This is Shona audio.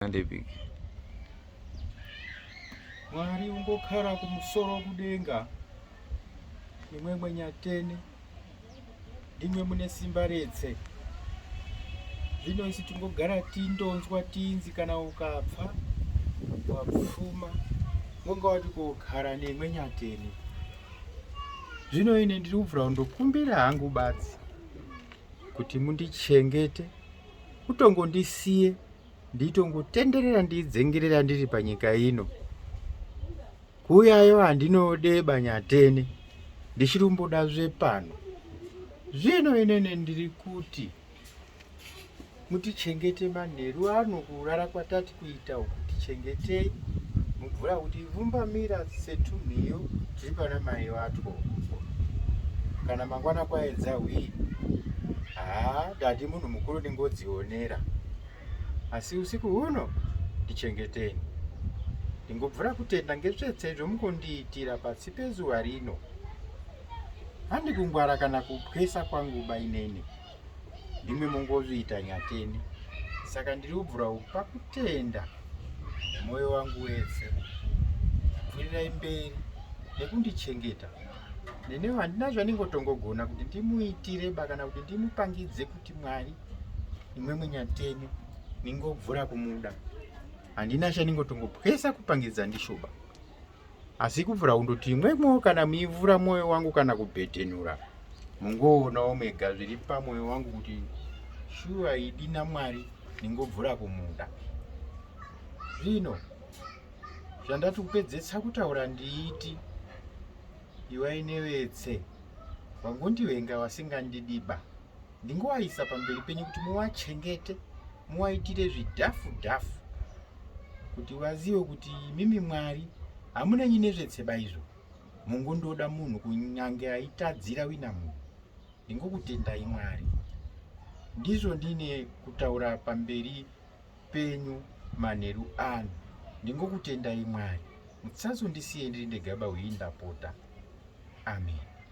ndepiki mwari ungokara kumusoro kudenga imwe mwenyatene ndimwe mune simba retse zvino isi tingogara tindonzwa tinzi kana ukapfa wapfuma unga wati kugara nemwe nyatene zvino ine ndiri kubvira kundokumbira hangu badzi kuti mundichengete utongondisiye nditongotenderera ndidzengerera ndiri panyika ino kuuyayo handinode banyatene ndichiri kumboda zvepano zvino inene ndiri kuti mutichengete manheru ano kurara kwatati kuita uku tichengetei mubvura kuti vumbamira setunhiyo Ndipana mai vatwo kana mangwana kwaedza hwii haa dadi munhu mukuru ndingodzionera asi usiku huno ndichengeteni ndingobvura kutenda ngetsvetse zvomukondiitira pasi pezuva rino handi kungwara kana kupwesa kwanguba inene ndimi mungozviita nyateni saka ndiri kubvura kupa kutenda mwoyo wangu wese pfurirai mberi nekundichengeta nene handina zvandingotongogona kuti ndimuitire ba kana kuti ndimupangidze kuti mwari imwe munyateni ningobvura kumuda handina chandingotongopwesa kupangidza ndishoba asi kuvhura kundoti imwemwo kana muivhura mwoyo wangu kana kubhedhenura mungoonawo mega zviri pamwoyo wangu kuti shuwa idi namwari ndingobvura kumuda zvino zvandati kupedzesa kutaura ndiiti iwainevetse wangondivenga wasingandidiba ndingovaisa pamberi penyu kuti muvachengete muvaitire zvidhafu dhafu kuti vazive kuti mimi mwari hamunenyi nezvetseba izvo mungondoda munhu kunyange aitadzira wina munhu ndingokutendai mwari ndizvo ndine kutaura pamberi penyu manheru ano ndingokutendai mwari mutsazondisiye ndiri ndegaba hwei ndapota amen